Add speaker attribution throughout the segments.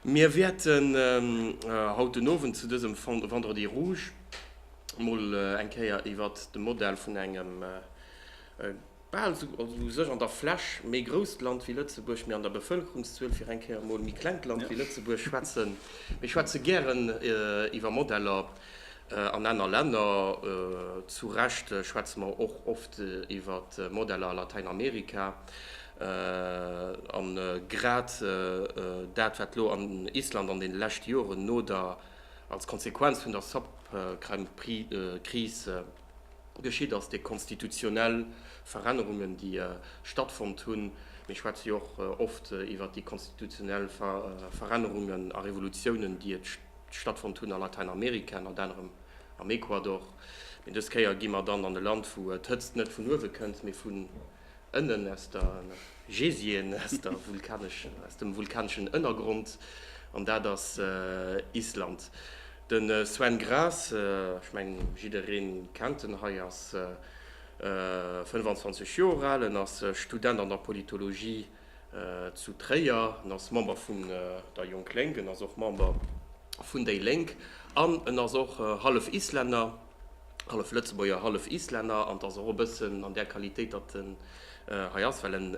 Speaker 1: Mir wäerten haut den Owend zu dësem Vendredi rouge mol eng Kéier iwwert de Modell vun engem bal esou u sech an der Fläch méi grousst Land wéi Lëtzebuerg, mee an der Bevëlkerungszuel fir eng Kéier mol méi klengt Land wéi Lëtzebuerg schwätzen. Mir schwätze gären iwwer Modeller an aner Länner. Zu Recht schwätze mer och oft iwwert Modeller a Latäinamerika. A grad dat, wat elo an Island an deene leschte Joren no der, als Konsequenz vun der Subprime-Kris geschitt ass, déi konstitutionell Verännerungen, déi stattfonnt hunn, mir schwätze jo och oft iwwert déi konstitutionell Verännerungen a Revolutiounen, déi et stattfonnt hunn a Latäinamerika, ënnert anerem am Ecuador, mee dës Kéier gi mer dann an e Land, wou d'Hëtzt net vun uewe kënnt, mee vun. Ënnen aus der Geysien, aus der vulkanesch, aus dem vulkaneschen Ënnergrond, an dat ass Island. De Sven Gräs, ech mengen jiddereen kennt en hei, ass 25 Joer al, en ass Student an der Politologie zu Tréier, en ass Member vun der Jong Lénk, en ass och Member vun déi Lénk an en ass och hallef Islänner. hallef Lëtzebuerger, hallef Islänner, an et ass och e bëssen an där Qualitéit, datt en hei ass, well en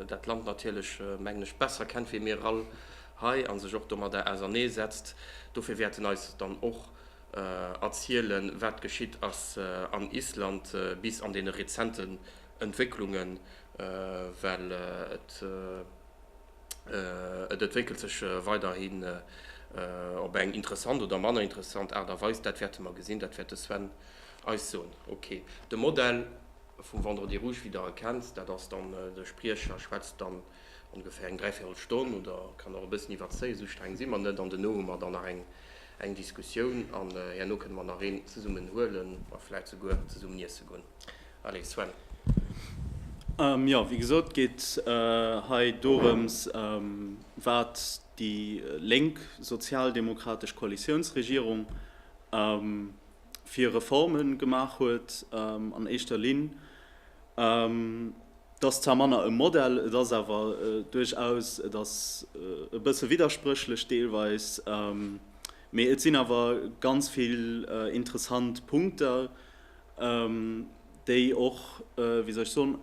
Speaker 1: dat Land natierlech, mengen ech, besser kennt wéi mir all hei a sech och domadder ausernee setzt. Dofir wäert en eis dann och erzielen, wat geschitt ass an Island bis an deene rezenten Entwécklungen, well et, et entwéckelt sech weiderhi op eng interessant oder manner interessant Aart a Weis, dat wäerte mer gesinn, dat wäert de Sven eis soen. Ok, de Modell vum Vendredi rouge, wéi Der e kennt, dat ass dann, de Spriecher schwätzt dann ongeféier eng dräivierel Stonn oder kann och e bëssen iwwerzéien, esou streng si mer net, an duerno hu mer dann nach eng Diskussioun an herno kënne mer nach een zesummen huelen a vläicht souguer zesummen iesse goen. Allez, Sven. Jo, wéi gesot geet hei dorëms, wat déi lénk sozialdemokratesch Koalitiounsregierung fir Reforme gemaach huet. An éischter Linn, et ass zwar manner e Modell, et ass awer duerchaus, et ass e bësse widderspréchlech deelweis, mee et sinn awer ganz vill interessant Punkter, déi och, wéi soll ech soen,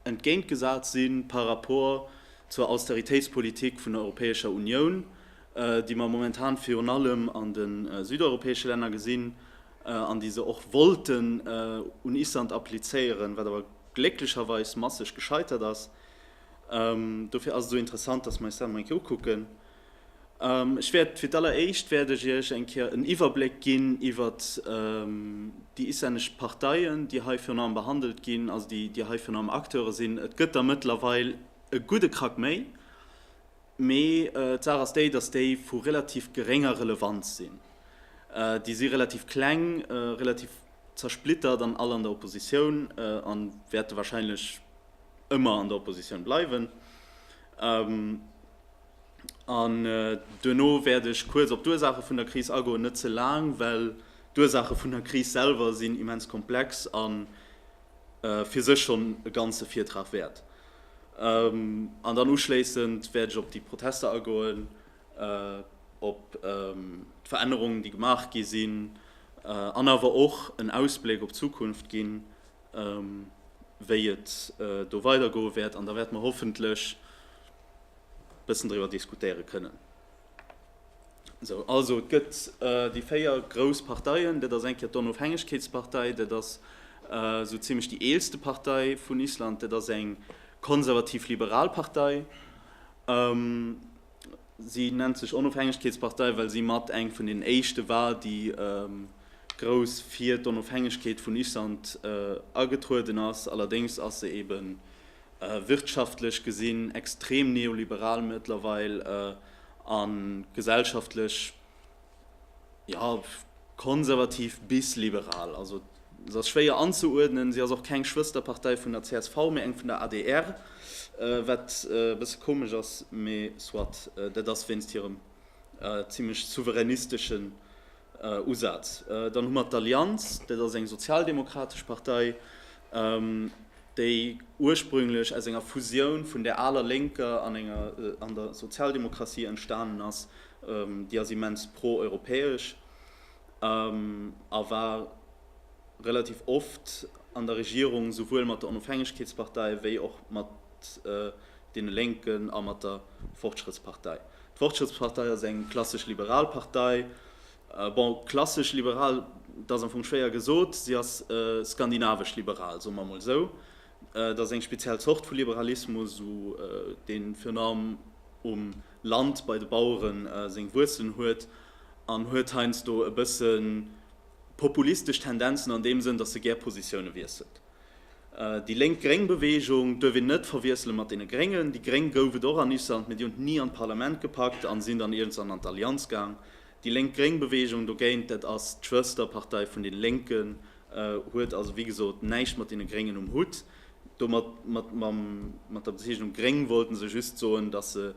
Speaker 1: entgéintgesat si par rapport zur Austeritéitspolitik vun der Europäescher Unioun, déi mer momentan virun allem an de südeuropäesche Länner gesinn, an déi se och wollten un Island applizéieren, wat awer glécklecherweis masseg gescheitert ass. Dofir ass et esou interessant, datt mer eis dat emol eng Kéier ukucken. Ech wäert fir d'alleréischt wäert ech Iech eng Kéier en Iwwerbléck ginn iwwert déi islännesch Parteien, déi hei virun allem behandelt ginn, also déi hei virun allem Acteure sinn. Et gëtt der mëttlerweil e gudde Krack méi, mee d'Saach ass déi, datt déi vu relativ gerénger Relevanz sinn. Déi si relativ kleng, relativ zersplittert an all an der Oppositioun a wäerte warscheinlech ëmmer an der Oppositioun bleiwen. An duerno wäert ech kuerz op d'Ursaache vun der Kris agoen, net ze laang, well d'Ursaache vun der Kris selwer sinn immens komplex a fir sech schonn e ganze Virtrag wäert. An dann uschléissend wäert ech op déi Protester agoen, op d'Verännerungen, déi gemaach gi sinn, an awer och en Ausbléck op d'Zukunft ginn, wéi et do weidergoe wäert. An da wäerte mer hoffentlech e bëssen driwwer diskutéiere kënnen. Esou, also et gëtt déi véier grouss Parteien. Dat ass eng Kéier d'Onofhängegkeetspartei, dat ass esou zimlech déi eelste Partei vun Island, dat ass eng konservativ-liberal Partei. Si nennt sech Onofhängegkeetspartei, well si mat eng vun deenen éischte war, déi grouss fir d'Onofhängegkeet vun Island agetrueden ass. Allerdéngs ass se eeben wirtschaftlech gesinn extrem neoliberal mëttlerweil a gesellschaftlech, jo, konservativ bis liberal. Also se ass schwéier anzeuerdnen. Se ass och keng Schwësterpartei vun der csv, mee eng vun der adr, wat e bësse komesch ass, mee soit. Dat ass wéinst hirem zimlech souveränistesche Usaz. Dann hu mer d'Allianz, dat ass eng sozialdemokratesch Partei, déi ursprünglech aus enger Fusioun vun der aler Lénker an enger an der Sozialdemokratie entstanen ass. Déi ass immens pro-europäesch a war relativ oft an der Regierung, souwuel mat der Onofhängegkeetspartei wéi och mat deene Lénken a mat der Fortschrittspartei. D'Fortschrittspartei ass eng klassesch liberal Partei. Bon, klassesch liberal, dat ass am Fong schwéier gesot. Si ass skandinavesch liberal, soe mer emol esou. Dat ass eng speziell Zort vu Liberalismus, dee virun allem um Land bei de Bauere seng Wuerzelen huet an huet heiansdo e bësse populistesch Tendenzen an deem Sënn, datt se gär Positioune wiesselt. Déi lénk-gréng Beweegung duerf een net verwiessele mat deene Gréngen. Déi Gréng gouf et och an Island, mee déi hunn et ni an d'Parlament gepackt an sinn dann iergendzwann an d'Allianz gaang. Déi lénk-gréng Beweegung dogéint, dat ass d'Schwësterpartei vun den Lénken, huet also wéi gesot näischt mat deene Gréngen um Hutt. Domat, mat, mam, mat der Bezeechnung gréng wollte se just soen, datt se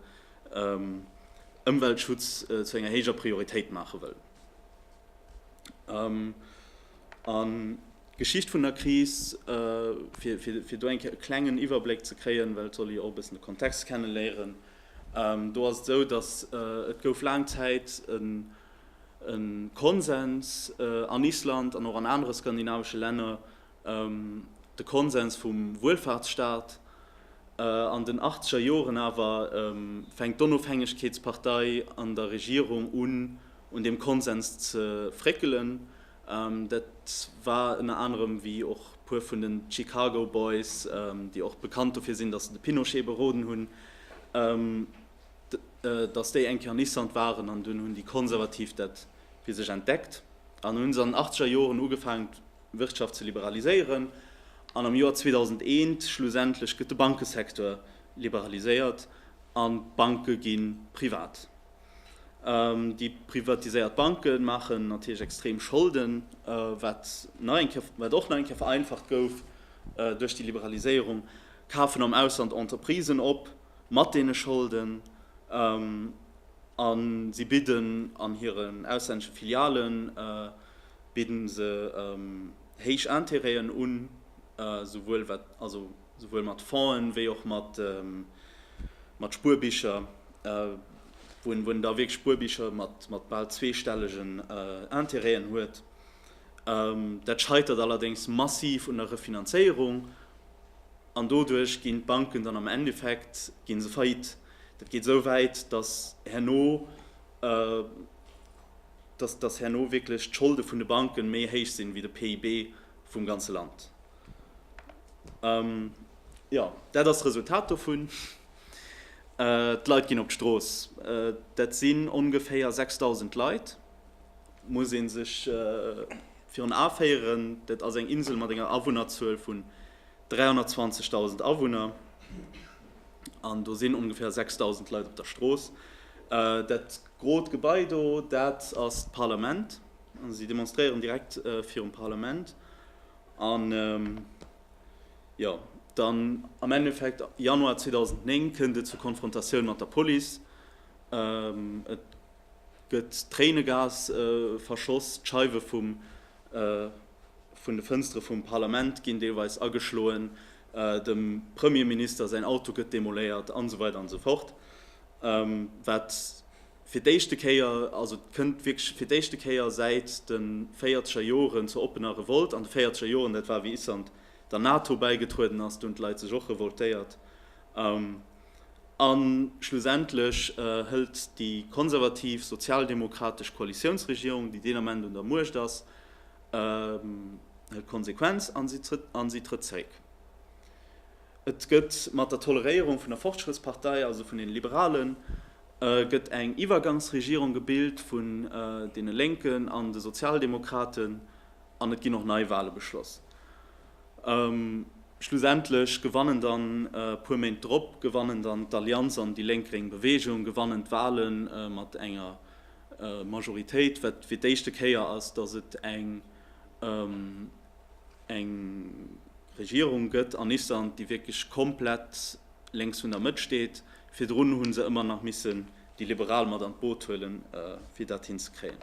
Speaker 1: Ëmweltschutz zu enger héijer Prioritéit maache wëllen. An d'Geschicht vun der Kris, fir do eng Kéier e klengen Iwwerbléck ze kréien, well et soll ee jo och e bëssen de Kontext kenne léieren. Do ass et esou, datt et gouf laang Zäit e Konsens an Island an och an anere skandinavesche Länner, de Konsens vum Wuelfaartsstaat. An den achtzeger Joren awer fänkt d'Onofhängegkeetspartei an der Regierung un, un deem Konsens ze fréckelen. Dat war ënner anerem, wéi och e puer vun den Chicago Boys, déi och bekannt dofir sinn, datt se de Pinochet beroden hunn, datt déi eng Kéier an Island waren. An dunn hunn déi Konservativ dat fir sech entdeckt an hu se an den Achtzeger Joren ugefaangen, d'Wirtschaft ze liberaliséieren. An am Joer 2001 schlussendlech gëtt de Bankesektor liberaliséiert an d'Banke gi privat. Déi privatiséiert Banke maachen natierlech extrem Scholden, wat och nach eng Kéier vereinfacht gouf duerch déi Liberaliséierung, kafen am Ausland Entreprisen op mat deene Scholden a si bidden an hiren auslännesche Filiale bidden se héich Intérêten un, souwuel wat. Souwuel mat Fongen, wéi och mat Spuerbicher, wou en da wierklech Spuerbicher mat bal zweestellegen Interêten huet. Dat scheitert allerdéngs massiv un der Refinanzéierung an doduerch ginn d'Banken dann am Endeffekt gi se faillite. Dat geet esou wäit, datt herno, datt herno wierklech d'Scholde vun de Banke méi héich sinn, wéi de PIB vum ganze Land. Jo, dat ass d'Resultat dovun. D'Leit ginn op d'Strooss. Dat sinn ongeféier 6.000 Leit. Et muss ee sech virun A féieren, dat ass eng Insel mat enger Awunnerzuel vun 320.000 Awunner. An do sinn ongeféier 6.000 Leit op der Strooss. Dat grot Gebai do, dat ass d'Parlament. Si demonstréieren direkt virum Parlament. An jo, dann am Endeffekt, Januar 2009, kënnt et zur Konfrontatioun mat der Police. Et gëtt Tréinegas verschoss, d'Scheiwe vun de Fënstere vum Parlament ginn deelweis ageschloen, dem Premierminister säin Auto gëtt demoléiert, an esou weider an esou fort, wat Fir d'éischte Kéier, also et kënnt wierklech fir d'éischte Kéier säit de véierzeger Joren zur oppener Revolt an de véierzeger Joren. Dat war wéi Island der NATO bäigetrueden ass, do hunn d'Leit sech och revoltéiert. A schlussendlech hëlt déi konservativ sozialdemokratesch Koalitiounsregierung, déi deen Ament un der Muecht ass, hëlt d'Konsequenz a si trëtt zréck. Et gëtt mat der Toleréierung vun der Fortschrittspartei, also vun den Liberalen, gëtt eng Iwwergangsregierung gebilt vun den Lénken an de Sozialdemokraten an et ginn och Neiwale beschloss. Schlussendlech gewannen dann, e puer Méint drop, gewannen dann d'Allianz an déi lénk-gréng Bewegung gewannen d'Wale mat enger Majoritéit, wat fir d'éischte Kéier ass, datt et eng. eng Regierung gëtt an Island, déi wierklech komplett lénks vun der Mëtt steet. Virdrun hu se ëmmer nach missen déi Liberal mat an d'Boot huele fir dat hinzekréien.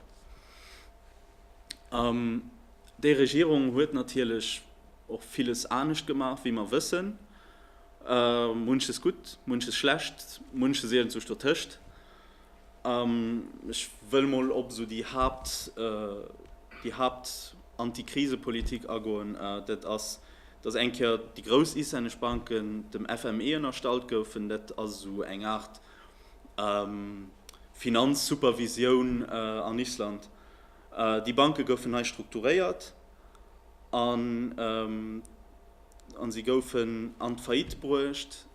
Speaker 1: Déi Regierung huet natierlech och villes anescht gemaach, wéi mer wëssen. Munches gutt, munches schlecht, munches iergendwuecht dotëscht. Ech wëll mol op esou déi Haapt, déi Haapt Antikrisepolitik agoen. Dat ass, dass eng Kéier déi grouss islännesch Banken dem FME ënnerstallt goufen. Dat ass esou eng Aart Finanzsupervisioun an Island. Déi Banke goufen hei strukturéiert an, an si goufen an d'Faillite bruecht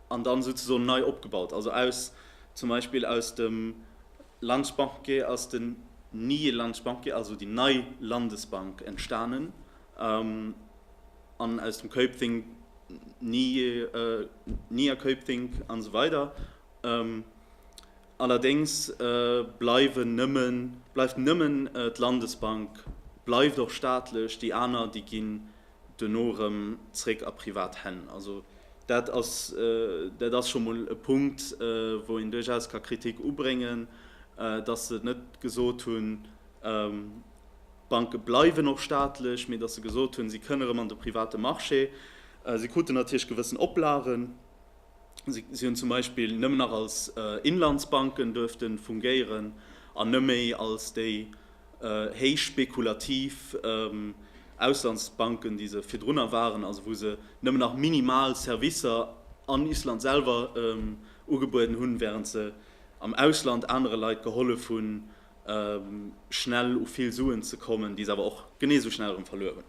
Speaker 1: an dann souzesoen nei opgebaut, also aus zum Beispill aus dem Landesbank ass den nie Landesbank, also déi nei Landesbank entstanen an aus dem Kaupthing nie Kaupthing an esou weider. Allerdéngs bleiwen nëmmen bleift nëmmen d'Landesbank bleift och staatlech, déi aner déi ginn duerno erëm zréck a privat Hänn. Also dat ass, dat ass scho mol e Punkt, wou een duerchaus ka Kritik ubréngen, dass se net gesot hunn, d'Banke bleiwen och staatlech, mee dass se gesot hunn, si kënne erëm an de private Marché. Si kruten natierlech gewëssen Oplagen. Si hunn zum Beispill nëmmen nach als Inlandsbanken duerfte fungéieren an net méi als déi héich spekulativ Auslandsbanken, déi se virdrunner waren, also wou se nëmmen nach minimal Servicer an Island selwer ugebueden hunn, wärend se am Ausland anere Leit gehollef hunn, schnell u vill Suen ze kommen, déi se awer och genee esou schnell erëm verluer hunn.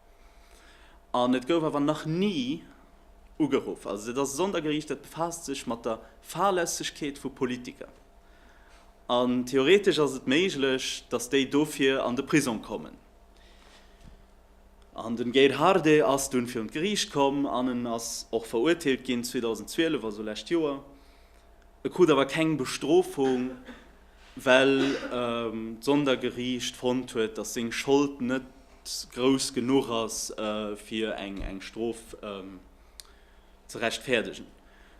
Speaker 1: An et gouf awer nach ni ugeruff. Also dat ass e Sondergericht, dat befaasst sech mat der Fahrlässegkeet vu Politiker. An theoretesch ass et méiglech, datt déi dofir an de Prisong kommen. An den Gerd Hardé ass dunn virun d'Gericht komm an en ass och verurteelt ginn 2012, also lescht Joer. E krut awer keng Bestrofung well d'Sondergeriicht fonnt huet, datt seng Schold net grouss genuch ass, fir eng Strof ze rechtfäerdegen.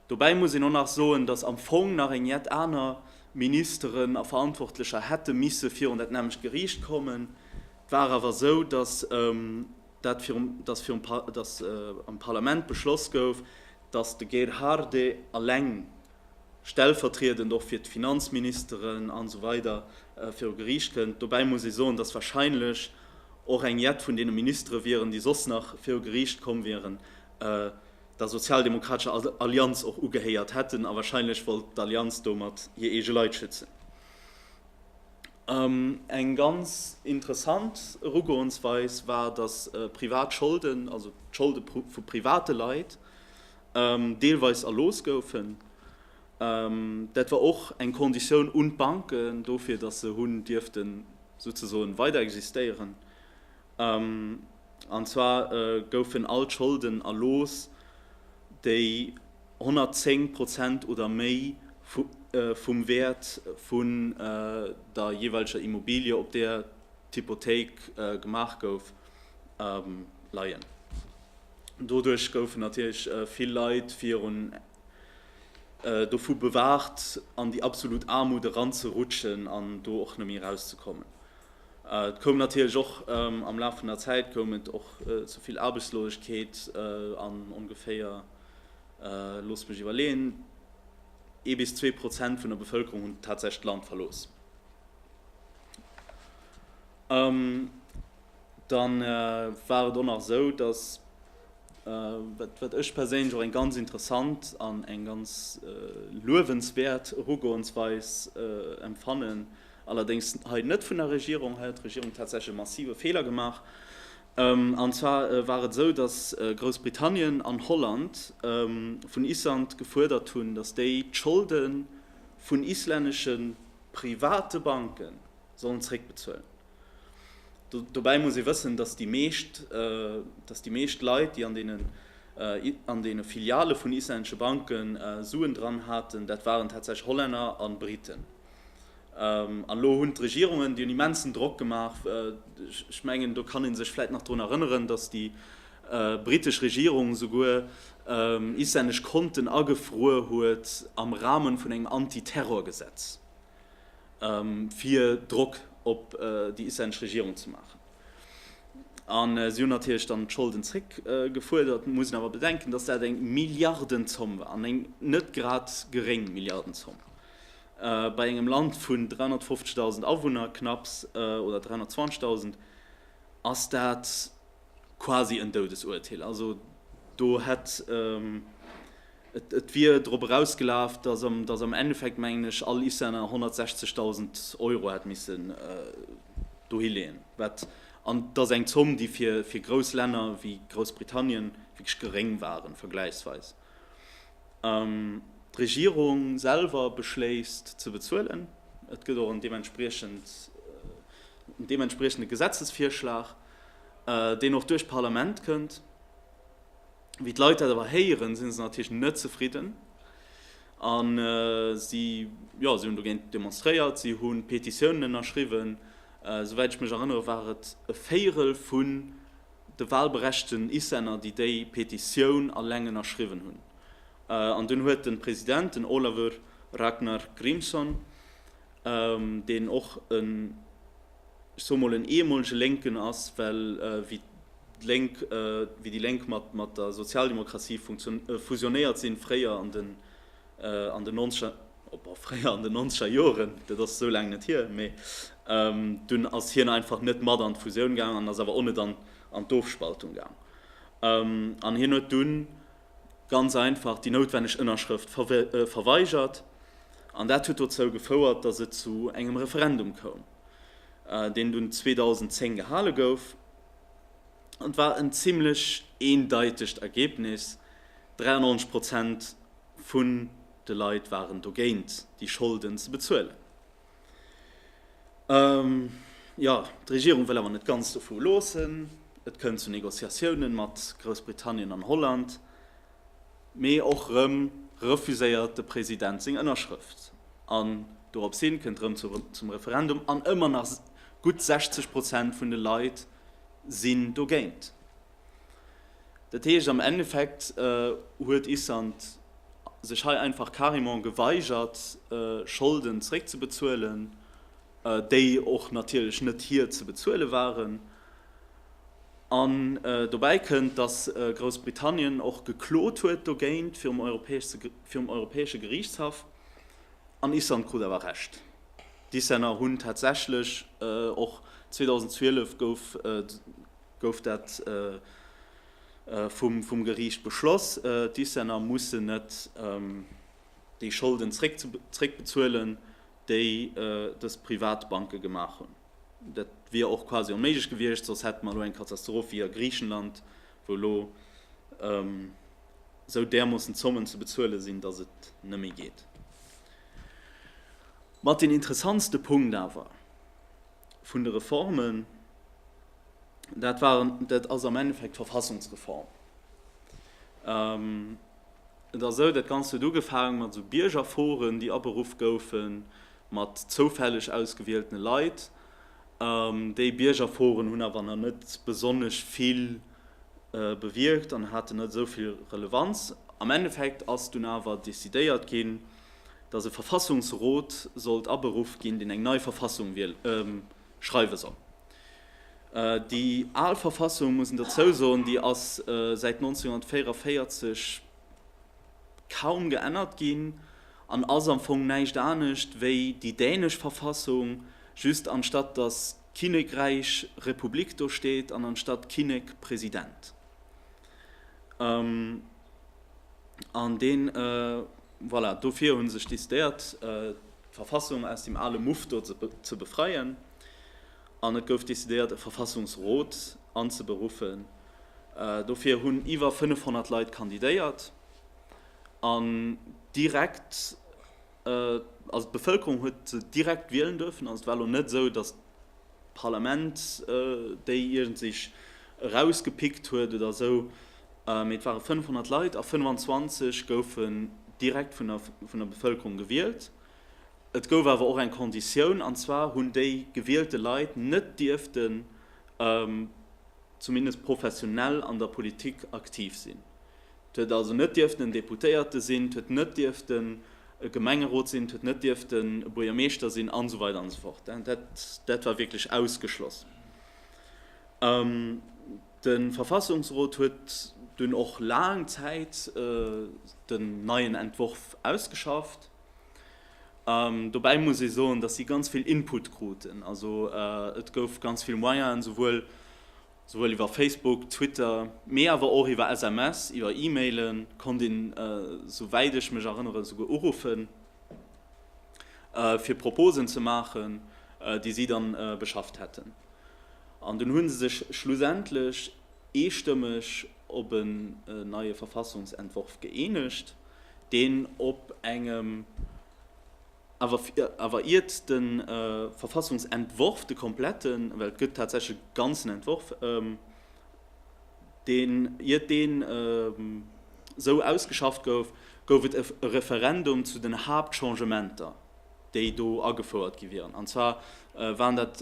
Speaker 1: Dobäi muss een och nach soen, datt am Fong nach eng jett aner Ministeren a Verantwortlecher hätte misse virun dat nämmlecht Geriicht kommen. Et war awer esou, datt dat virum, datt virum, datt am Parlament beschloss gouf, datt de Gerhardé eleng stellvertriedend och fir d'Finanzministeren an esou weider viru Geriicht kënnt. Dobäi muss ee soen, datt wahrscheinlech och eng jett vun deene Ministere wieren, déi soss nach viru Geriicht komm wieren, der sozialdemokratescher Allianz och ugehéiert hätten a wahrscheinlech wollt d'Allianz domat hir eege Leit schützen. Eng ganz interessant Erugoensweis war, datt privat Scholden, also d'Scholde vu private Leit, deelweis erlooss goufen. Dat war och eng Conditioun un d'Banken dofir, datt se hunn dierften souzesoen weider existéieren. An zwar goufen all d'Scholden erlooss, déi 110 Prozent oder méi vum Wäert vun der jeeweileger Immobilie, op där d'Hypothéik gemaach gouf, leien. Doduerch goufen natierlech vill Leit virun dovu bewaacht, an déi absolut Aarmut eranzerutschen an do och neméi erauszekommen. Et koum natierlech och am Laf vun der Zäit koum et och zu vill Aarbechtslosegkeet an ongeféier, loosst mech iwwerleeën, ee bis zwee Prozent vun der Bevëlkerung hunn tatsächlech d'Land verlooss. Dann war et och nach esou, dass, wat ech perséinlech och eng ganz interessant an eng ganz luewenswäert Erugoensweis empfannen, allerdéngs hei net vun der Regierung, hei huet d'Regierung tatsächlech e massive Feeler gemaach, an zwar war et esou, dass Groussbritannien an Holland vun Island gefuerdert hunn, dass déi d'Scholde vun islännesche private Banke sollen zréckbezuelen. Dobäi muss ee wëssen, datt déi meescht, datt déi meescht Leit, déi an deenen, an deene Filiale vun islännesche Banke Suen dran haten, dat waren tatsächlech Hollänner a Briten. An elo hunn d'Regierungen, déi hunn immensen Drock gemaach. Ech mengen, do kann ee sech vläicht nach drun erënneren, datt déi britesch Regierung souguer islännesch Konten agefruer huet am Rahme vun engem Anti-Terror-Gesetz. fir Drock op déi islänneg Regierung ze maachen. A si hunn natierlech dann d'Scholden zréck gefuerdert. Mir mussen awer bedenken, datt dat eng Milliardenzomm war, an eng net grad geréng Milliardenzomm bei engem Land vun 350.000 Awunner knapps, oder 320.000, ass dat quasi en Doudesuerteel. Also do hätt. Et wier drop erausgelaf, datt am Endeffekt, mengen ech, all Islänner 160.000 Euro hätt missen dohileeën, wat, an et ass eng Zomm, déi fir grouss Länner wéi Groussbritannien wierklech geréng waren, vergläichsweis. D'Regierung selwer beschléisst ze bezuelen. Et gëtt och en deementspriechende Gesetzesvirschlag, deen och duerch d'Parlament kënnt. Wéi d'Leit dat awer héieren, sinn se natierlech net zefridden a si hunn dogéint demonstréiert, si hu Petitiounen ënnerschriwwen. Souwäit ech mech erënnere war et e Véierel vun de walberechten Islänner, déi déi Petitioun alleng ënnerschriwwen hunn. An dunn huet de President, den Olavur Ragnar Grímsson, deen och en, ech soe mol, en eemolege Lénken ass, well wéi. Lénk, wéi déi Lénk mat der Sozialdemokratie fusionéiert sinn, fréier an den nonzeger Joren, dat ass esou laang net hier, mee dunn ass hien einfach net mat an d'Fusioun gaang an ass awer o net an d'Ofspaltung gaang. An hien huet dunn ganz einfach déi noutwenneg Ënnerschrëft verweigert an dat huet dozou gefouert, datt et zu engem Referendum koum, deen dunn 2010 gehale gouf. Et war en zimlech eendeitegt Ergebnis, 93 Prozent vun de Leit waren dogéint, déi Scholden ze bezuelen. Jo, d'Regierung wëll awer net ganz dovu loossen. Et kënnt zu Negociatiounen mat Groussbritannien an Holland, Mee och rëm refuséiert de President seng Ënnerschrëft an dorops hin kënnt rëm zum Referendum an ëmmer nach gutt 60 Prozent vun de Leit sinn dogéint. Dat heescht am Endeffekt huet Island sech hei einfach carrément geweigert Scholden zréckzebezuelen, déi och natierlech net hir ze bezuele waren. An dobäi kënnt, datt Groussbritannien och geklot huet dogéint virum Europäesche Geriichtshaff. An Island krut awer Recht. D'Islänner hunn tatsächlech och 2012 gouf gouf dat vum vum Geriicht beschloss, d'Islänner mussen net déi Scholden zréckbezuelen, déi dës Privatbanke gemaach hunn. Dat wier och quasi onméiglech gewiescht, soss hätte mer elo eng Katastroph wéi a Griichenland, wou elo esou därmoossen Zommen ze bezuele sinn, datt et net méi geet. Mat deen interessantste Punkt awer vun de Reformen, dat war, dat ass am Endeffekt d'Verfassungsreform. Et ass esou, dat Ganzt huet ugefaange mat esou Biergerforen, déi aberuff goufen, mat zoufälleg ausgewieltene Leit. Déi Biergerforen hunn awer nach net besonnesch vill bewierkt an haten net esou vill Relevanz. Am Endeffekt ass dunn awer decidéiert ginn, datt e Verfassungsrot sollt aberuff ginn, deen eng nei Verfassung schreiwe soll. Déi al Verfassung, muss een dozou soen, déi ass säit 1944, kaum geännert ginn an ass am Fong näischt anescht wéi déi dänesch Verfassung, just anstatt datt Kinnekräich Republik do steet an anstatt Kinnek President. An deen, voilà, dofir hu sech décidéiert d'Verfassung aus deem ale Muff do ze befreien An et gouf decidéiert e Verfassungsrot anzeberuffen. Dofir hunn iwwer 500 Leit kandidéiert an direkt, also d'Bevëlkerung huet se direkt wielen duerfen. Also et war elo net esou, datt d'Parlament déi iergend sech erausgepickt huet oder esou, mee et ware 500 Leit a 25 goufen direkt vun der Bevëlkerung gewielt. Et gouf awer och eng Konditioun, an zwar hunn déi gewielte Leit net dierften zumindest professionell an der Politik aktiv sinn. Et huet also net dierften en Deputéierte sinn, et huet net dierften e Gemengerot sinn, et huet net dierften e Buergermeeschter sinn an esou weider an esou fort. Dat war wierklech ausgeschloss. De Verfassungsrot huet dunn och laang Zäit den neien Entworf ausgeschafft. Dobäi muss ee soen, dass si ganz vill Input kruten. Also et gouf ganz vill Moyenen, souwuel souwuel iwwer Facebook, Twitter, mee awer och iwwer SMS, iwwer E-Mailen konnt een, sou wäit ech mech erënneren, esouguer uruffen, fir Proposen ze maachen, déi si dann beschafft hätten. An dunn hu se sech schlussendlech eestëmmeg op en neie Verfassungsentworf gëeenegt, deen op engem, awer iert de Verfassungsentworf, de kompletten, well et gëtt tatsächlech e ganzen Entworf, deen, iert deen esou ausgeschafft gouf, gouf et e Referendum zu den Haaptchangementer, déi do agefouert gi wieren. An zwar waren dat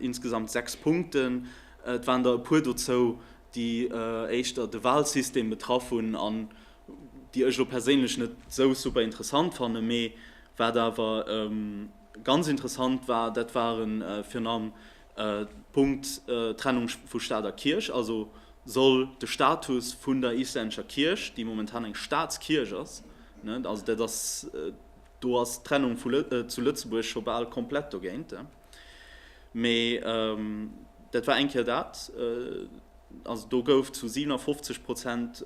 Speaker 1: insgesamt sechs Punkten. Et waren der e puer dozou, déi éischter de Wahlsystem betraff hunn an déi ech elo perséinlech net esou super interessant fannen. Mee wat awer ganz interessant war, dat ware virun allem d'Punkt Trennung vu Staat a Kierch. Also soll de Status vun der islännescher Kierch, déi momentan eng Staatskierch ass, also dat ass, do ass d'Trennung zu Lëtzebuerg scho bal komplett dogéint, Mee dat war eng Kéier dat. Also do gouf zu 57 Prozent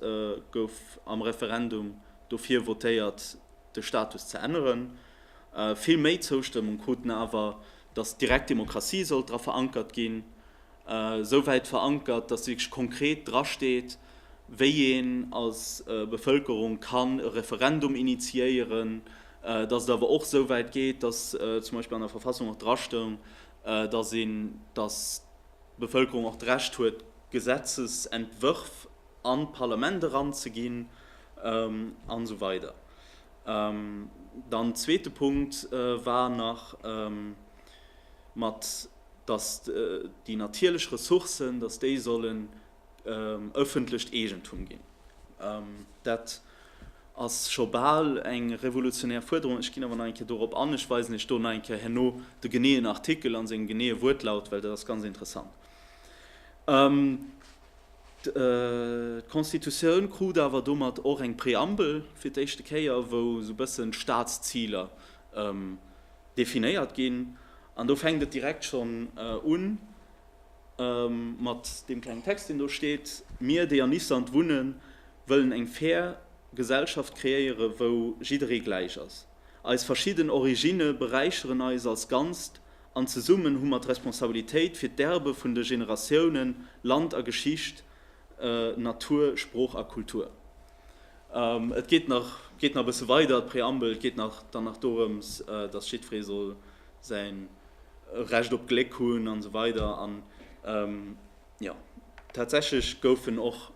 Speaker 1: gouf am Referendum dofir votéiert, de Status ze änneren. Vill méi Zoustëmmung kruten awer, datt d'direkt Demokratie sollt dra verankert ginn. esou wäit verankert, dass wierklech konkret dra steet, wéi een als Bevëlkerung kann e Referendum initiéieren, dass et awer och esou wäit geet, dass zum Beispill an der Verfassung och dra stoung, dass een, dass d'Bevëlkerung och d'Recht huet, Gesetzesentwërf an d'Parlament eranzeginn, an esou weider. Dann zweete Punkt war nach. mat dass déi natierlech Ressourcen, dass déi sollen ëffentlecht Eegentum ginn. Dat ass scho bal eng revolutionär Fuerderung. Ech ginn awer nach eng Kéier dorop an. Ech weisen Iech do nach eng Kéier herno de geneeën Artikel a sengem geneeë Wuertlaut, well dat ass ganz interessant. D'Constitutioun krut awer domat och eng Preambel, fir d'éischte Kéier, wou esou e bëssen d'Staatsziler definéiert ginn. An do fänkt et direkt schonn u mat deem klengen Text, deen do steet, Mir, déi an Island wunnen, wëllen eng fair Gesellschaft kreéieren, wou jidderee gläich ass. Eis verschidden Originne beräicheren eis als Ganzt an zesummen hu mer d'Responsabilitéit fir d'Erbe vun de Generatiounen, Land a Geschicht, Natur, Sprooch a Kultur. Et geet nach e bësse weider, d'Preambel. Et geet dann nach dorëms, datt jiddweree soll säi Recht op Gléck hunn an esou weider. An jo, tatsächlech goufen och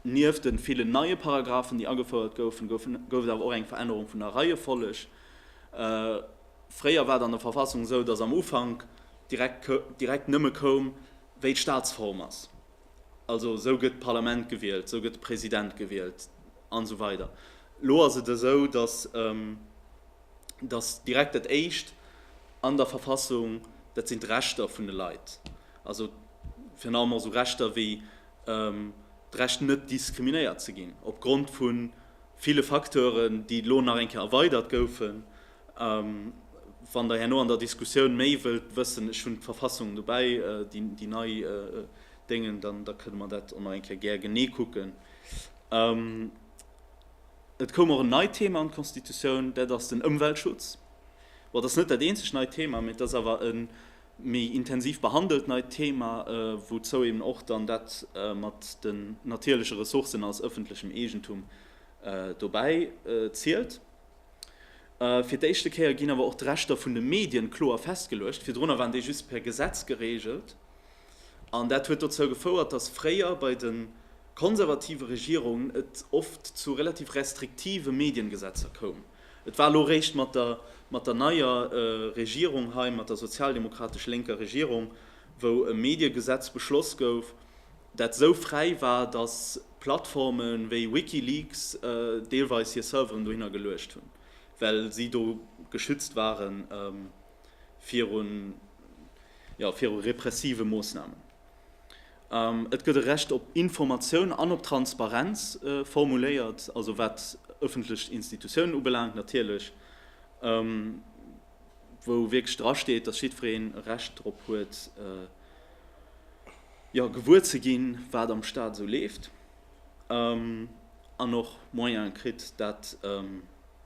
Speaker 1: nieft de villen neie Paragraphen, déi agefouert goufen, gouf et awer och eng Verännerung vun der Reiefolleg. Fréier war et an der Verfassung esou, datt am Ufank direkt nëmme koum, wéi d'Staatsform ass. Also esou gëtt d'Parlament gewielt, esou gëtt de President gewielt an esou weider. Elo ass et esou, datt, datt direkt dat Éischt an der Verfassung, dat sinn d'Rechter vun de Leit, also virun allem och esou Rechter wéi d'Recht net diskriminéiert ze ginn, opgrond vu ville Facteuren, déi elo nach eng Kéier erweidert goufen, A wann Der herno an der Diskussioun méi wëllt wëssen, ech hunn d'Verfassung dobäi, déi nei Déngen, dann da kënne mer dat och nach eng Kéier gär genee kucken. Et koum och en neit Thema an d'Constitutioun, dat ass den Ëmweltschutz. Bon, dat ass net dat eenzegt neit Thema, mä et ass awer e méi intensiv behandelt neit Thema, wouzou eben och dann dat mat den natierleche Ressourcen als ëffentlechem Eegentum dobäi zielt. Fir d'éischte Kéier ginn awer och d'Rechter vun de Medien kloer festgeluecht. Virdrunner waren déi just per Gesetz gereegelt. An dat huet dozou gefouert, datt fréier bei de konservative Regierungen et oft zu relativ restriktive Mediengesetzer koum. Et war elo réischt mat der neier Regierung hei, mat der sozialdemokratesch-lénker Regierung, wou e Mediegesetz beschloss gouf, dat esou fräi war, datt Plattforme wéi Wikileaks deelweis hir Serveren dohinner geluecht hunn, well si do geschützt ware viru repressive Moossnamen. Et gëtt e Recht op Informatioun an op Transparenz formuléiert, also wat ëffentlech Institutiounen ubelaangt natierlech. wou wierklech dra steet, dass jiddwereen e Recht drop huet, jo, gewuer ze ginn, wat am Stat esou leeft, an och Moyene kritt, dat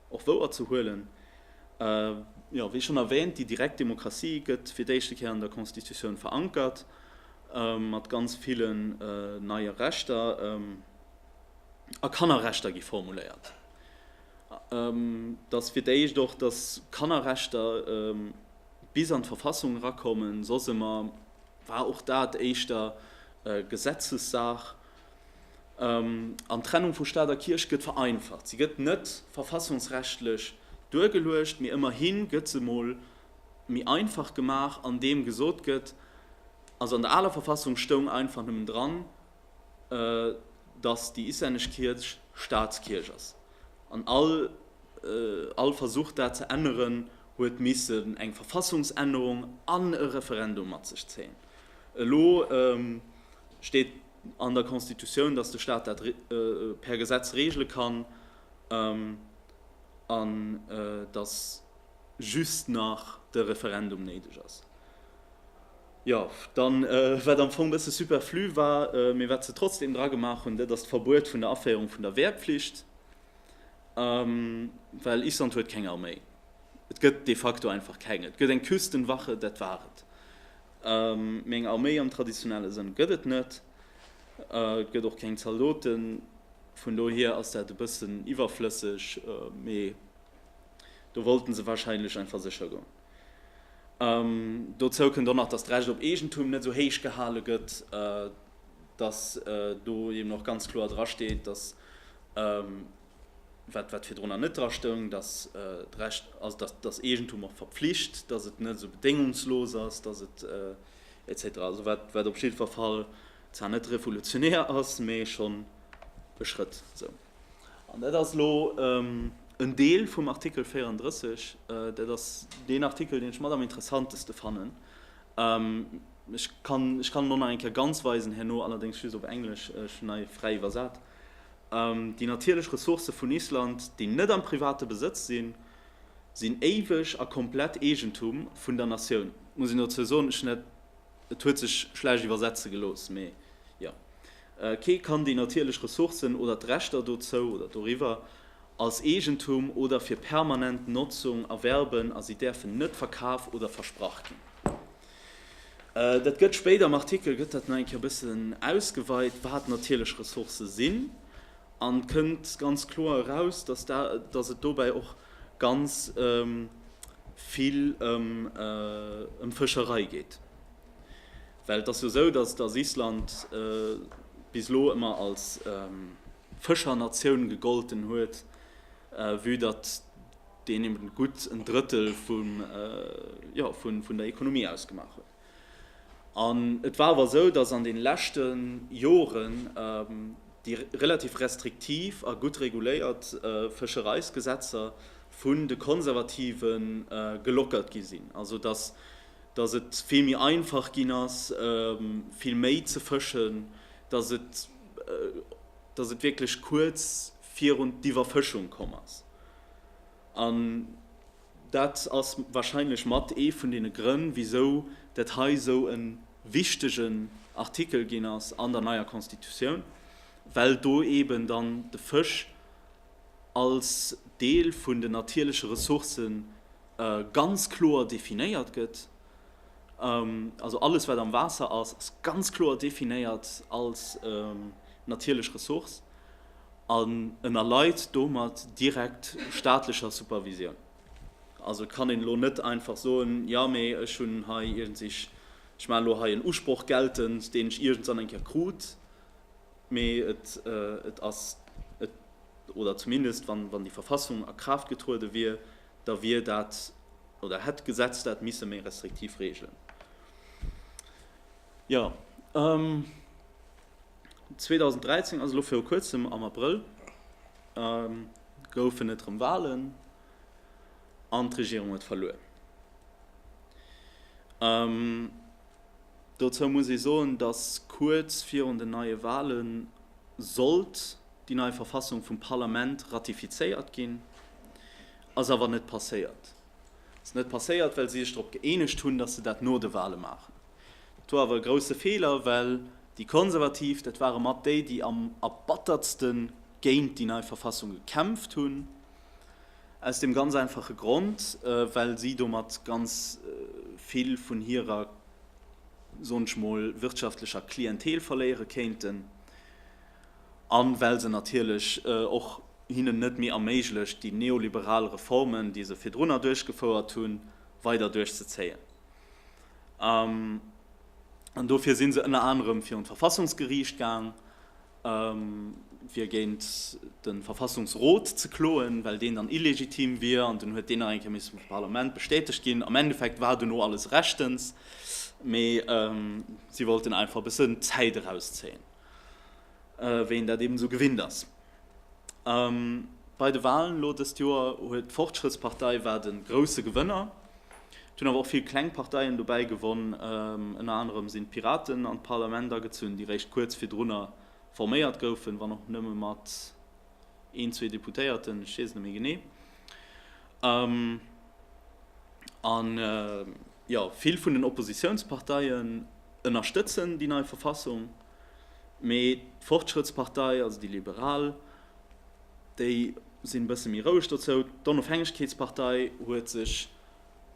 Speaker 1: och wouer ze huelen. Jo, wéi schonn erwäänt, déi direkt Demokratie gëtt fir d'éischte Kéier an der Constitutioun verankert, mat ganz villen neie Rechter, a Kannerrechter gi formuléiert. Datt fir d'éischt och, datt Kannerrechter bis an d'Verfassung erakommen, soss ëmmer war och dat éischter Gesetzessaach. An d'Trennung vu Staat a Kierch gëtt vereinfacht. Se gëtt net verfassungsrechtlech duergeluecht, mee ëmmerhi gëtt se emol méi einfach gemaach, andeem gesot gëtt, also an der aler Verfassung stoung einfach nëmmen dran, dass déi islännesch Kierch Staatskierch ass, an all Versuch dat ze änneren huet missen eng Verfassungsännerung an e Referendum mat sech zéien. Elo steet an der Constitutioun, dass de Staat dat per Gesetz regele kann, an dass just nach de Referendum néideg ass. Jo, dann, wat am Fong e bësse superflu war, mee wat se trotzdeem dra gemaach hunn, dat ass d'Verbuet vun der Aféierung vun der Wehrpflicht, well Island huet keng Arméi. Et gëtt de facto einfach keng. Et gëtt eng Küstenwache, dat war et, mee eng Arméi am traditionelle Sënn gëtt et net. Et gëtt och keng Zaldoten. Vun dohier ass dat e bëssen iwwerflësseg, mee do wollten se warscheinlech einfach sécher goen. Dozou kënnt och nach, datt d'Recht op Eegentum net esou héich gehale gëtt, datt do eben och ganz kloer dra steet, datt, wat virdrunner net dra stoung, datt d'Recht, also datt datt Eegentum och verpflicht, datt et net esou bedéngungslos ass, datt et etc. Also wat op jiddwer Fall zwar net revolutionär ass, mee schonn e Schrëtt esou. An dat ass elo en Deel vum Artikel 34. Dat ass deen Artikel, deen ech mat am interessanteste fannen. Ech kann, ech kann elo nach eng Kéier ganz weisen herno, allerdéngs just op Englesch, ech hunn hei fräi iwwersat, Déi natierlech Ressourcë vun Island, déi net am private Besëtz sinn, sinn éiweg a komplett Eegentum vun der Natioun. Muss een dozou soen, ech hunn dat, Et huet sech schlecht iwwersetze gelooss, mee jo. Kee kann déi natierlech Ressourcen oder d'Rechter dozou oder doriwwer als Eegentum oder fir permanent Notzung erwerben a si däerfen net verkaf oder versprach ginn. Dat gëtt spéit am Artikel gëtt dat nach eng Kéier e bëssen ausgeweit, wat natierlech Ressourcë sinn, an et kënnt ganz kloer eraus, dass et dobäi och ganz vill ëm Fëscherei geet, well et ass jo esou, datt datt Island bis elo ëmmer als Fëschernatioun gegolten huet, vue datt deen eben gutt en Drëttel vum, jo vun der Ekonomie ausgemaach huet. An et war awer esou, dass an de leschte Joren déi relativ restriktiv a gutt reguléiert Fëschereisgesetzer vun de Konservative gelockert gi sinn. Also dass et vill méi einfach ginn ass, vill méi ze fëschen, dass et wierklech kuerz virun d'Iwwerfëschung komm ass. Dat ass wahrscheinlech mat ee vun deene Grënn, wisou dat hei esou e wichtegen Artikel ginn ass an der neier Constitutioun, well do eeben dann de Fësch als Deel vun den natierleche Ressourcë ganz kloer definéiert gëtt. Also alles, wat am Waasser ass, ass ganz kloer definéiert als natierlech Ressource. An en erleit domat direkt staatlecher Supervisioun. Also et kann een elo net einfach soen, jo mee ech hunn hei iergends, ech maachen elo hei en Usproch geltend, deen ech iergends dann eng Kéier krut, mee et ass, oder zumindest wann déi Verfassung a Kraaft getruede wier, da wier dat, oder hätt d'Gesetz dat misse méi restriktiv regelen. Jo. 2013 ass elo viru kuerzem am Abrëll goufen et erëm Walen an d'Regierung huet verluer. Dozou muss ee soen, datt kuerz virun den neie Wale sollt déi nei Verfassung vum Parlament ratifizéiert ginn. Ass awer net passéiert. Ass net passéiert, well si sech drop gëeenegt hunn, datt se dat no de Wale maachen. Dat wor awer e grousse Feeler, well déi Konservativ, dat ware mat déi, déi am erbattertste géint déi nei Verfassung gekämpft hunn, aus deem ganz einfache Grond, well si domat ganz vill vun hirer, soen ech mol, wirtschaftlecher Klientel verléiere kéinten a well se natierlech och hinnen net méi erméiglecht, déi neoliberal Reformen, déi se virdrunner duerchgefouert hunn, weider duerchzezéien. An dofir si se ënner anerem virun d'Verfassungsgeriicht gaang, fir géint de Verfassungsrot ze kloen, well deen dann illegitim wier. An dunn huet deen nach eng Kéier misse vum Parlament bestätegt ginn. Am Endeffekt war duerno alles rechtens, mee si wollten einfach e bëssen Zäit erauszéien. wéi een dat eben esou gewinnt ass. Bei de Walen elo dëst Joer huet d'Fortschrëttspartei war de grousse Gewënner. Et hunn awer och vill kleng Parteien dobäi gewonn. Ënner anerem sinn d'Piraten an d'Parlament agezunn, déi réischt kuerz virdrunner forméiert goufen, wann och nëmme mat een, zwee Deputéierten, ech weess et net méi genee. A jo, vill vun den Oppositiounsparteien ënnerstëtzen déi nei Verfassung. Mee d'Fortschrëttspartei, also déi Liberal, déi sinn e bësse méi roueg dozou. D'Onofhängegkeetspartei huet sech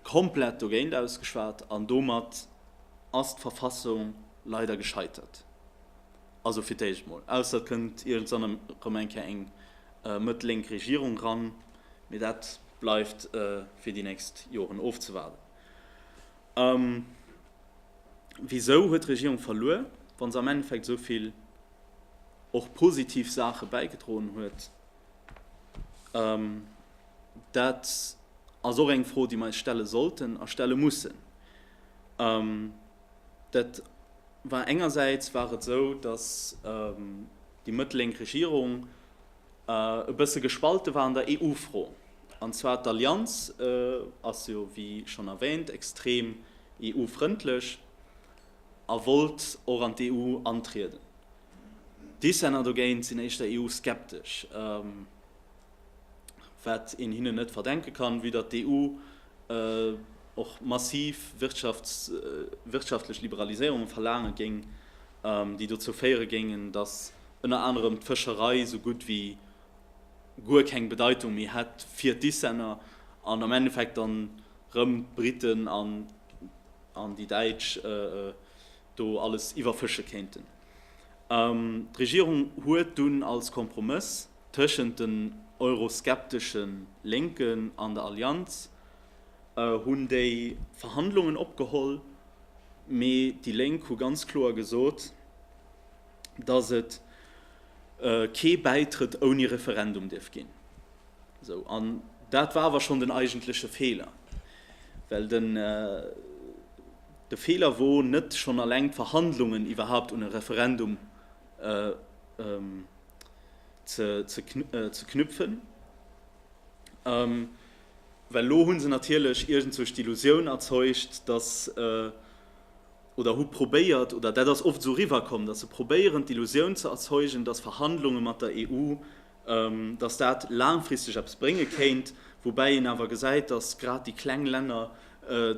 Speaker 1: komplett dogéint ausgeschwat an domat ass d'Verfassung leider gescheitert. Also fir d'éischt mol. Ausser et kënnt iergendzwann erëm eng Kéier eng mëtt-lénk Regierung eran, mee dat bleift fir déi nächst Joren ofzewaarden. A wisou huet d'Regierung verluer, wa se am Endeffekt esou vill och positiv Saache bäigedroen huet? Dat ass och eng Fro, déi mer eis stelle sollten a stelle mussen. Dat war engersäits war et esou, datt déi mëttellénk Regierung, E bësse gespalte war an der EU-Fro. An zwar d'Allianz ass jo, wéi schonn erwäänt, extrem EU-frëndlech a wollt och an d'EU antrieden. D'Dissenter dogéint sinn éischter EU-skeptesch, wat een hinnen net verdenke kann, vue datt d'EU och massiv wirtschaftlech Liberaliséierunge verlaange géing, déi dozou féiere géingen, datt ënner anerem d'Fëscherei esou gutt wéi guer keng Bedeitung méi hätt fir d'Islänner an am Endeffekt dann rëm d'Briten an déi Däitsch do alles iwwerfësche kéinten. D'Regierung huet dunn als Kompromëss tëschent den euroskeptesche Lénken an der Allianz hunn déi Verhandlungen opgeholl, mee déi Lénk hu ganz kloer gesot, datt et kee Bäitrëtt ouni Referendum dierf ginn. Esou. An dat war awer schonn den eigentleche Feeler. Well den de Feeler wor net schonn alleng d'Verhandlungen iwwerhaupt un e Referendum ze ze knüpfen. Well elo hu se natierlech iergendsuerg d'Illusioun erzeugt, datt, oder hu probéiert, oder dat ass oft esou eriwwerkomm, datt se probéieren d'Illusioun ze erzeugen, datt Verhandlunge mat der EU, datt dat laangfristeg eppes brénge kéint, woubäi een awer gesäit, datt grad déi kleng Länner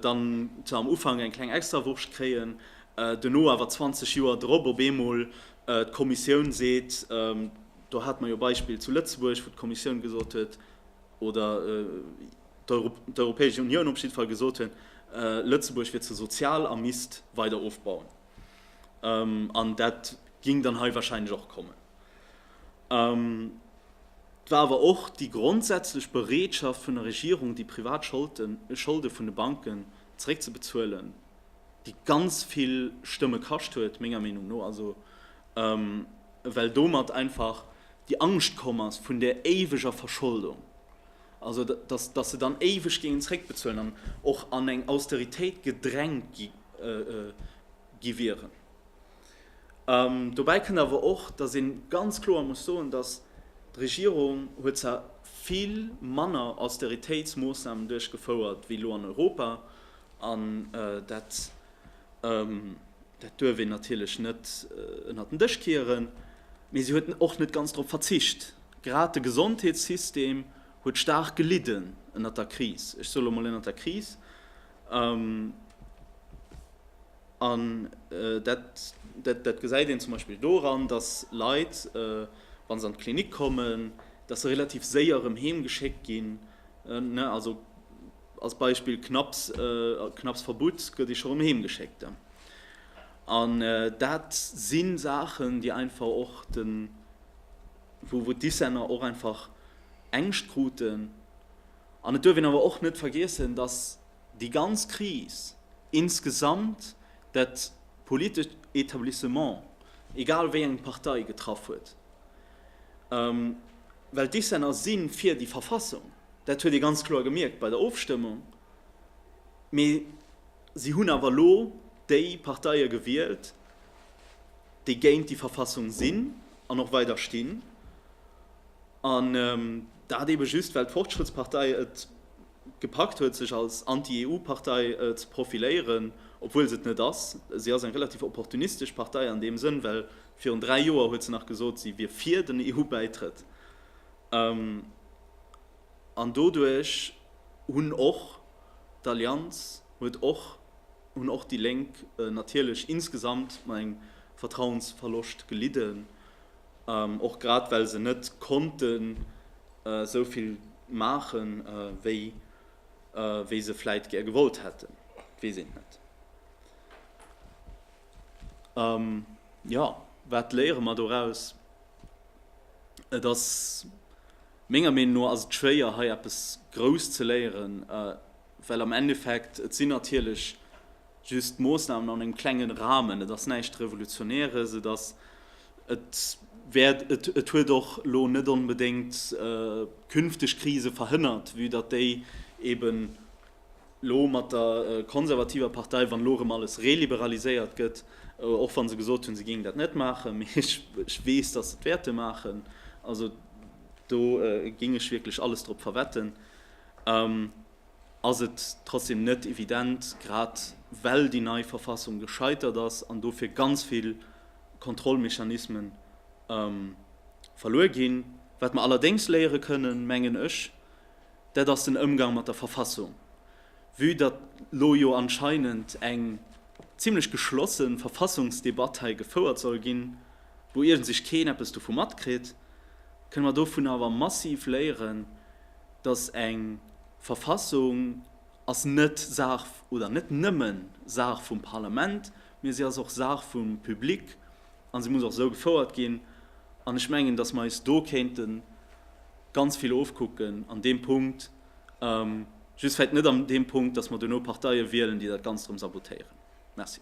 Speaker 1: dann zwar am Ufank eng kleng Extrawurscht kréien, duerno awer 20 Joer drop op eemol d'Kommissioun seet, do hate mer jo e Beispill zu Lëtzebuerg, wou d'Kommissioun gesot huet, oder d'Europäesch Unioun op jiddwer Fall gesot hunn, Lëtzebuerg wier ze sozial a misst weider ofbauen. An dat géing dann hei wahrscheinlech och kommen. Et war awer och déi grondsätzlech Bereetschaft vun der Regierung, déi privat Scholde vun de Banken zeréckzebezuelen, déi ganz vill Stëmme kascht huet, menger Meenung no, well domat einfach déi Angscht komm ass vun där éiweger Verscholdung, also datt, datt se dann éiweg géingen zréckbezuelen an och an eng Austeritéit gedrängt gi, gi wieren. Dobäi kënnt awer och, datt ee ganz kloer muss soen, datt d'Regierung huet zwar vill manner Austeritéitsmoossnamen duerchgefouert wéi elo an Europa, an dat Dat duerf een natierlech net ënnert den Dësch kieren. Mee si huet och net ganz drop verzicht. Grad de Gesondheetssystem huet staark gelidden ënnert der Kris. Ech soe lo mol ënnert der Kris. An dat gesäit een zum Beispill doran, datt Leit, wa se an d'Klinik kommen, datt se relativ séier erëm heem geschéckt ginn. Als Beispill, Knapps, knapps Verbutt gëtt ee scho rëm heem geschéckt. An dat si Saachen, déi einfach och de, wou wou d'Dissenter och einfach Ängscht kruten. An et duerf een awer och net vergiessen, datt déi ganz Kris insgesamt dat politescht Etablissement, egal wéi eng Partei, getraff huet. Well d'Dissenter si fir déi Verfassung. Dat huet ee ganz kloer gemierkt bei der Ofstëmmung. Mee si hunn awer elo déi Parteie gewielt, déi géint déi Verfassung sinn an och weider stinn. An dat eebe just, well d'Fortschrittspartei et gepackt huet, sech als Anti-EU-Partei ze profiléieren, obwuel se et net ass. Si ass eng relativ opportunistesch Partei an deem Sënn, well virun dräi Joer huet se nach gesot, si wier fir den EU-Bäitrëtt. An doduerch hunn och d'Allianz, huet och, hunn och déi Lénk natierlech insgesamt mat engem Vertrauensverloscht gelidden, och grad well se net konnten esou vill maache wéi se vläit gär gewollt hätten, weess een net. A jo, wat léiere mer doraus? Et ass, menger Meenung no ass et schwéier hei eppes grouss ze léieren, well am Endeffekt, et sinn natierlech just Moossnamen an engem klenge Rahmen, et ass näischt Revolutionäres, et ass, et wäert, et huet och elo net onbedéngt künfteg Krise verhënnert, vue datt déi eeben Elo mat der konservativer Partei, wann elo erëm alles reliberaliséiert gëtt, och wa se gesot hunn, se géingen dat net maachen, mee ech weess, datt se et wäerte maachen, also do géing ech wierklech alles drop verwetten, ass et trotzdeem net evident, grad well déi nei Verfassung gescheitert ass an dofir ganz vill Kontrollmechanisme verluer ginn. Wat mer allerdéngs léiere kënnen, mengen ech, Dat ass den Ëmgang mat der Verfassung. Vue datt lo jo anscheinend eng zimlech geschlosse Verfassungsdebatt hei gefouert soll ginn, wou iergendsech keen eppes dovu matkritt, kënne mer dovun awer massiv léieren, datt eng Verfassung ass net Saach oder net nëmme Saach vum Parlament, mee si ass och Saach vum Public An se muss och esou gefouert ginn. An ech mengen, datt mer eis do kéinte ganz vill ofkucken an deem Punkt, just vläicht net an deem Punkt, datt mer duerno Parteie wielen, déi dat Ganzt erëm sabotéieren. Merci.